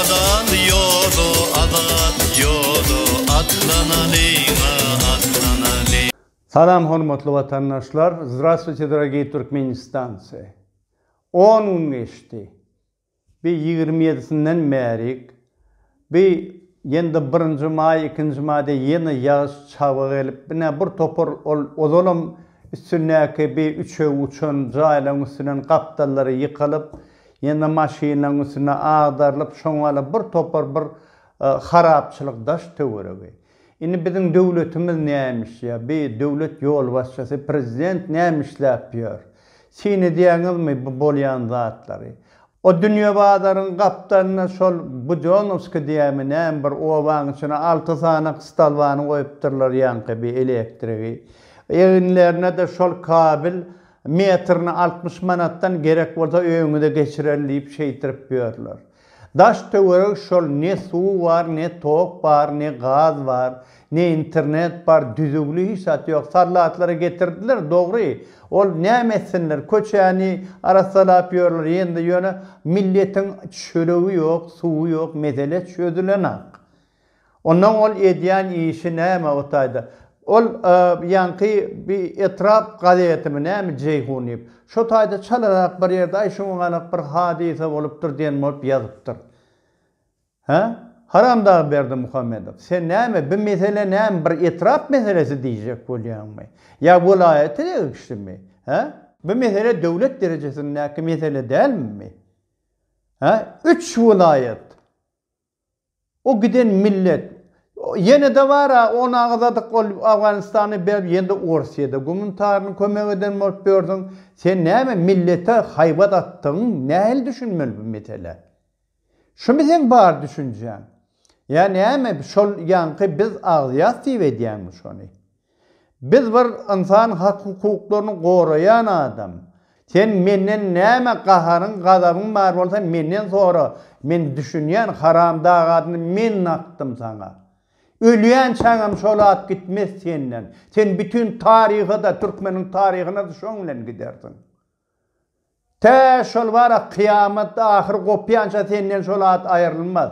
Azat ýoly, azat ýoly, Atlanalyň-a, atlanalyň. Salam hormatly watandaşlar, Zdravstvuyte, dragii Türkmenistance! On gün geçdi. Bi ýigrimi ýedisinden bärik bi ýende birinji maý ikinji maýda ýene ýagyş çabga gelip ine bir topar ol ozalam üstündäki bi üçegi uçan jaýlaryň üstünden gapdallary ýykylyp ýene maşynlaryň üstüne agdarylyp şoňala bir topar bir harapçylyk daş töweregi Indi biziň döwletimiz nämiş ýa bi döwlet ýolbaşçysy prezident nämişläp ýör? Syn edýäňizmi bu bolýan zatlary? O dünýe bazaryň gapdalynda şol Bujonowskiý diýýämi näme bir obaň içine alty sany kystalbany goýupdyrlar ýaňky bi elektrigi. Eginlerine-de şol kabel metrine altmyş manatdan gerek bolsa öýüňize geçirerin diýip şeýtirip ýörler. Daş töwerek şol ne suw bar ne tok bar ne gaz bar ne internet bar düzügli hiç zat ýok sallatlary getirdiler dogry ol näme etsinler köçäni arassalap ýörler ýende ýöne milletiň çöregi ýok suwy ýok mesele çözülenak Ondan ol edýän işi näme o taýda? Ol ýaňky bi etrap gazetimi näme Jeýhun diýip, şo taýda çalarak bir ýerde aý şuň ganak bir hadysa bolupdyr diýen bolup ýazypdyr. Hä? Haramdag Berdimuhamedow, sen näme bi mesele näme bir etrap meselesi diýjek bolýaňmy? Ýa welaýata degişlimi? Hä? Bi mesele döwlet derejesindäki mesele dälmi? Hä? Üç welaýat. O giden millet. Ýenede bar a on agzadyk ol Afganistany berip ýenede Orsyýede gumun taryny kömek eden bolup ýörsüň. Sen näme millete haýbat atdygyň nähili düşünmeli bu meselä. Şumy seň bar düşünjäň. Ýa näme şol ýaňky biz agzýas diýip edýäňmi şony. Biz bir ynsan hak hukuklaryny goraýan adam. Sen menden näme gaharyň gazabyň bar bolsa menden sora men düşünýän haram dag adyny men nakdym saňa. Ölýänçäňem şol at gitmez senden. Sen bütün taryhada türkmeniň taryhynada şoň bilen gidersiň. Tä şol bara kyýamat ahyry gopýança senden şol at aýrylmaz.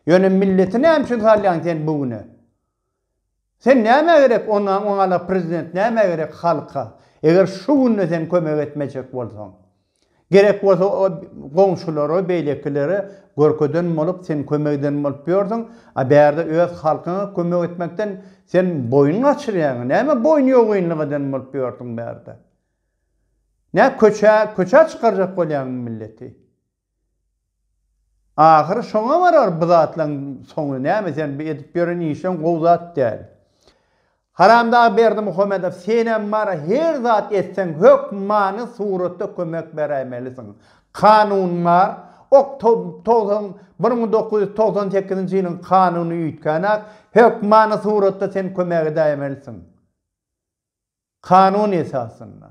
Ýöne milleti näme üçin salýaň sen bu güne. Sen nämä gerek onda oňala prezident nämä gerek halka eger şu günde sen kömek etmejek bolsaň gerek bolsa goňşulara beýlekilere görkezen bolup sen kömek eden bolup ýörsüň a bärde öz halkyňa kömek etmekden sen boýun gaçyrýaň näme boýun ýogynlyk eden bolup ýörsüň bärde nä köçä köçä çykarjak bolýaňmy milleti. Ahyry şoňa barar bu zatlaň soňy näme sen bu edip ýören işleň gowy zat däl. Haramdag Berdimuhamedow senem bara her zat etseň hökmany suratda kömek beräýmelisiň. Kanun bar ok togsan bir müň dokuz ýüz togsan sekizinji ýylyň kanuny üýtgänak hökmany suratda sen kömek edäýmelisiň. Kanun esasynda.